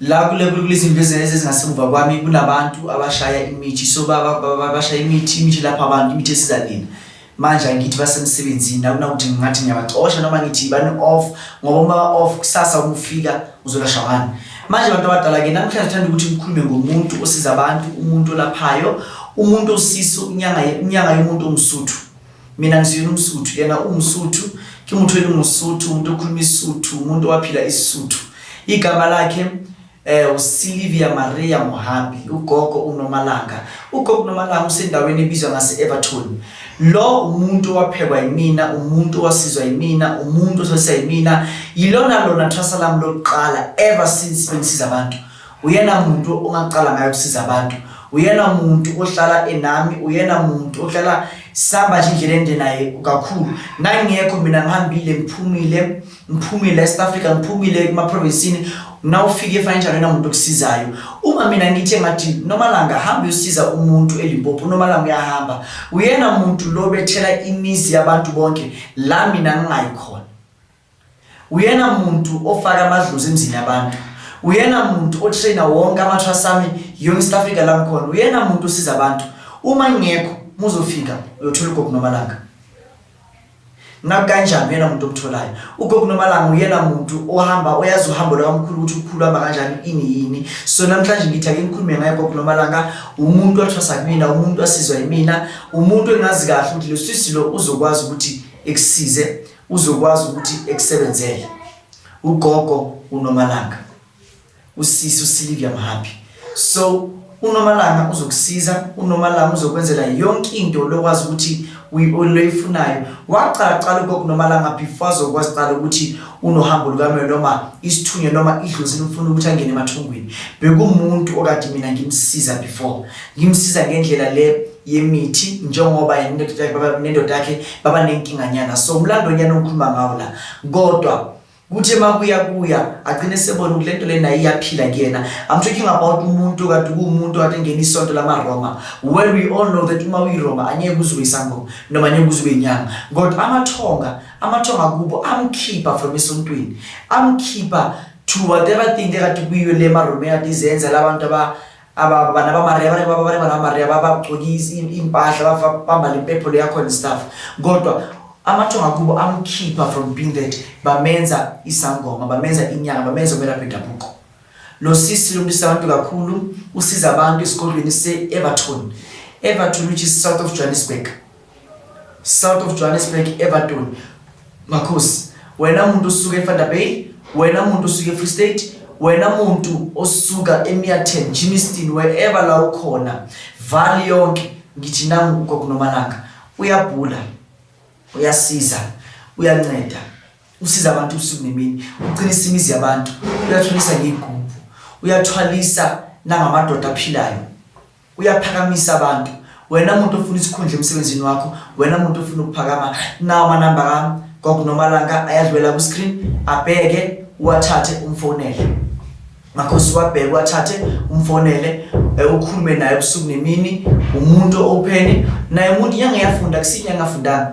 La kule kulizindlu ezenze ezingasemuva kwami kunabantu abashaya imithi so bashaya imithi imithi lapha abantu imithi esiza nina manje angithi basemsebenzini akunakuthi ngingathi ngiyabacosha noma ngithi bani off ngoba uma off kusasa ukufika uzolashwa ngani manje abantu abadala-ke namhlanje thanda ukuthi ngikhulume ngomuntu osiza abantu umuntu olaphayo umuntu osisa unyanga yomuntu omsuthu Mina ngisiyona umsuthu yena uwumsuthu ke muthu elingusuthu umuntu okhuluma isuthu umuntu owaphila isuthu igama lakhe eh uSilvia Maria Mohambi ugogo uNomalanga ugogo uNomalanga usendaweni ebizwa ngase Everton lo umuntu owaphekwa yimina umuntu owasizwa yimina umuntu osesa yimina yilona lona thwasa lami lokuqala ever since bengisiza abantu Uyena muntu ongaqala ngayo ukusiza abantu. Uyena muntu ohlala enami, uyena muntu ohlala sihamba nje indlela ende naye kakhulu. Ngangingekho mina ngihambile ngiphumile, ngiphumile eSouth Africa, ngiphumile emaprovinsini. Nawufika e-financial uyena muntu okusizayo. Uma mina ngithe ngathi noma langa hamba uyosiza umuntu eLimpopo, noma langa uyahamba. Uyena muntu lo bethela imizi yabantu bonke la mina ngingayi khona. Uyena muntu ofaka amadlozi emzini yabantu. Uyena muntu otrainer wonke amathwasami yonke South Africa la ngikhona. Uyena muntu osiza abantu. Uma ngingekho muzofika uyothola uGogo Nomalanga. Ngabe kanjani uyena muntu omtholayo? UGogo Nomalanga uyena muntu ohamba oyazi uhambo lwakamkhulu ukuthi ukhulu hamba kanjani ini yini. So namhlanje ngithi ake ngikhulume ngaye uGogo Nomalanga umuntu wathwasa kumina, umuntu wasizwa yimina, umuntu engazi kahle ukuthi losisi lo uzokwazi ukuthi ekusize. Uzokwazi ukuthi ekusebenzele ugogo uNomalanga, usisi uSilivia Mhapi. So uNomalanga uzokusiza, uNomalanga uzokwenzela yonke into lokwazi ukuthi uyifunayo waqala qala ugogo nomalanga before azokwazi qala ukuthi unohambo lukamyo noma isithunywa noma idlozi lifuna ukuthi angene emathungwini bekumuntu okade mina ngimsiza before ngimsiza ngendlela le yemithi njengoba yena nendoda yakhe baba nendoda yakhe baba nenkinganyana so umlando nyana ongikhuluma ngawo la kodwa kuthi emakuya kuya agcine sebona ukuthi lento lena iyaphila kuyena i'm talking about umuntu kade kuwumuntu kade ngena isonto lamaRoma well we all know that uma uyiRoma anyeke kuzwe isangoma noma anyeke kuzwe inyanga kodwa amathonga amathonga kubo amkhipha from esontweni amkhipha to whatever thing ekade kuyiyo le maRoma ekade izenza labantu aba aba bana ba maria bane baba bane bana maria babagcokisa impahla bambala impepho leyakhona istaff kodwa amathonga kubo amkhipha from being that bamenza isangoma bamenza inyanga bamenza umelaphi dabuko lo sisi lo mntisa abantu kakhulu usiza abantu esikolweni se-everton everton which is south of johannesburg South of Johannesburg Everton Makhosi wena muntu osuka eFanta Bay wena muntu osuka eFree State wena muntu osuka eMiaten Jimiston wherever la ukhona vali yonke ngithi nangu ugokunomalanga uyabhula uyasiza uyanceda usiza abantu ubusuku nemini uqinisa imizi yabantu uyathulisa ngeyigubhu uyathwalisa nangamadoda aphilayo Uyaphakamisa abantu wena muntu ofuna isikhundla emsebenzini wakho wena muntu ofuna ukuphakama nawo amanamba kami gogo nomalanga ayadlwela ku-screen abheke uwathathe umfonele makhosi wabheke uwathathe umfonele eh, ukhulume naye ubusuku nemini umuntu owupheni naye umuntu inyanga yafunda kusinyanga afundanga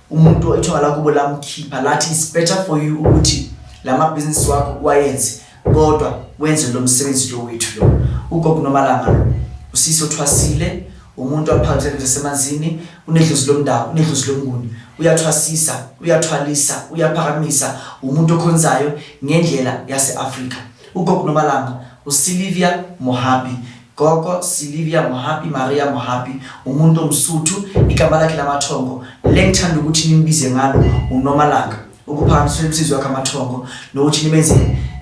umuntu ithonga lakubo lamkhipha lathi it's better for you ukuthi la mabhizinisi wakho uwayenze kodwa wenze lo msebenzi lo wethu lo ugogo nomalanga lo usisi othwasile umuntu aphakele ngesemanzini unedlozi lomndawo unedlozi lomnguni uyathwasisa uyathwalisa uyaphakamisa umuntu okhonzayo ngendlela yaseAfrika ugogo nomalanga uSilvia Mohabi Gogo Silivia Mohapi, Maria Mohapi, umuntu omsuthu, igama lakhe lamathongo lengithanda ukuthi nimbize ngalo uNomalanga, ukuphakamiswa kwemsizi wakhe amathongo nokuthi nimenze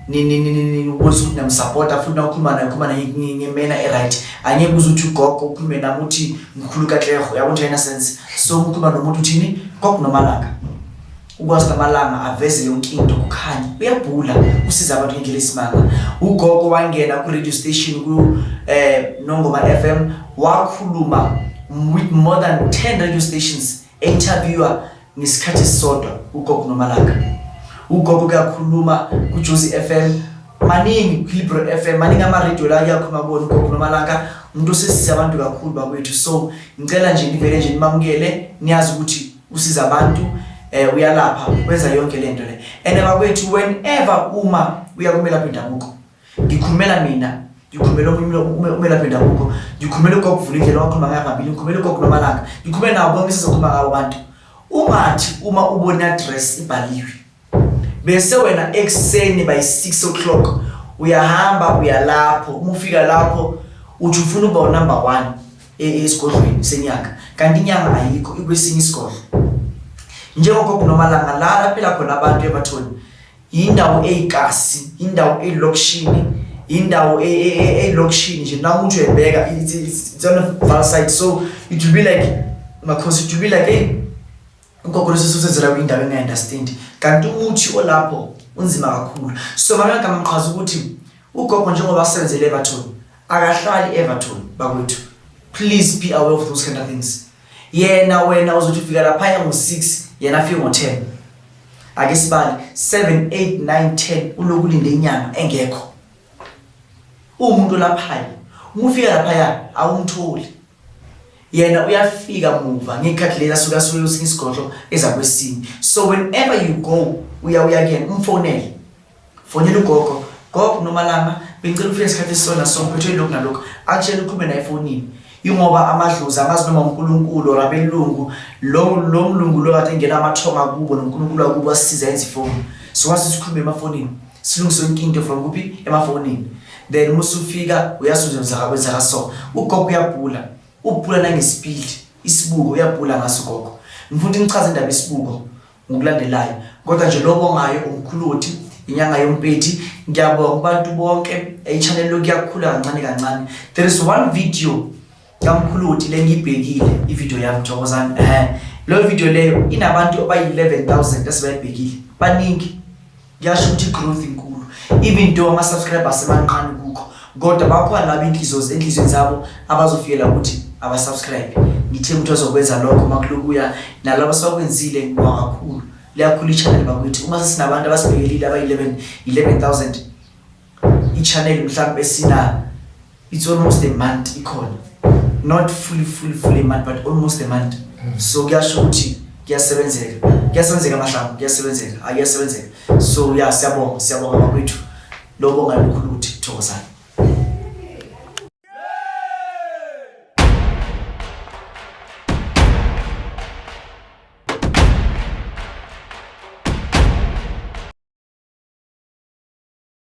ubonisa ukuthi namsapota futhi nawukhuluma naye ukhuluma naye ngemena eright angeke uze uthi ugogo ukhulume nami uthi ngikhulu kakleho yabo nje ayinasense so ukhuluma nomuntu uthini gogo nomalanga Ukwazi namalanga aveze yonke into kukhanya. Uyabhula usiza abantu ngendlela esimanga. Ugogo wangena ku radio station ku eh Nongoma FM wakhuluma with more than 10 radio stations interviewer ngesikhathi sisodwa ugogo nomalanga. Ugogo kuyakhuluma ku Jozi FM maningi Clipper FM maningi ama radio la kuyakhuluma bona ugogo nomalanga umuntu osesiza abantu kakhulu bakwethu so ngicela nje nivele nje nimamukele niyazi ukuthi usiza abantu eh uyalapha wenza yonke lento le and abakwethu whenever uma uya kumelaphi indabuko ngikhulumela mina ngikhulumela omunye umelaphi indabuko ngikhulumela ugogo vula indlela wakhuluma ngayo ngabili ngikhulumela ugogo nomalanga ngikhulumela nawo bonke sizokhuluma ngawo abantu ungathi uma ubona dress ibhaliwe bese wena ekuseni by 6 o'clock uyahamba uyalapho uma ufika lapho uthi ufuna uba unumber one e, e, esigodlweni senyanga kanti inyanga ayikho ikwesinye isigodlo njengogogo nomalanga la laphela khona abantu ebathoni yindawo eyikasi yindawo eyilokishini yindawo e, eyilokishini nje nawe uthi uyayibheka it's on a valsite so it will be like makhosi it will be like hey Ugogo lesi susenzela kwindawo engayendastendi kanti uthi olapho unzima kakhulu. So mamela gama mqhaza ukuthi ugogo njengoba asebenzele Everton akahlali Everton bakwethu. Please be aware of those kind of things. Yena wena uzothi ufika lapha ya ngo-6 yena afike ngo-10. Ake sibale 7 8 9 10 uloku linde inyanga engekho. Umuntu lapha. Umufika lapha ya awumtholi. yena uyafika muva ngekhathi lezi asuke asuke usinga isigodlo ezakwesini so whenever you go uya uya kuyena umfonele fonela ugogo gogo nomalanga bengicela ukufika isikhathi esisona so ngiphethwe yilokhu nalokhu akutshela ukhulume naye efonini yingoba amadlozi amazi noma unkulunkulu or abelungu lo mlungu lo kade engena amathonga kubo nonkulunkulu wakubo asiza enza ifoni so wase sikhulume emafonini Silungise yonke into from kuphi emafonini then uma usufika uyasuzenzaka kwenzeka so ugogo uyabhula ubhula nangesipili isibuko uyabhula ngaso ugogo ngifuna ukuthi ngichaze indaba isibuko ngokulandelayo kodwa nje lobo ngayo umkhuluthi inyanga yompethi ngiyabonga kubantu bonke echannel lokuyakhula kancane kancane there is one video Yamkhuluthi lengibhekile ivideo yami Thokozani eh leyo video leyo inabantu abayi 11000 esibayibhekile baningi kuyasho ukuthi growth inkulu even though ama subscribers semancane kukho kodwa bakhona laba inhliziyo enhlizweni zabo abazofikela ukuthi abasubscribe ngithe umuntu ozokwenza lokho makulokuya nalabo asakwenzile ngibonga kakhulu liyakhula i-channel bakwethu uma sesinabantu abasibhekelile abayi-11 11000 i-channel mhlawumbe esina it's almost a month ikhona not fully fully fully month but almost a month hmm. so kuyasho ukuthi kuyasebenzeka kuyasebenzeka amahlamvu kuyasebenzeka ayasebenzeka so ya siyabonga siyabonga bakwethu lokho ngalikhulu ukuthi thokozani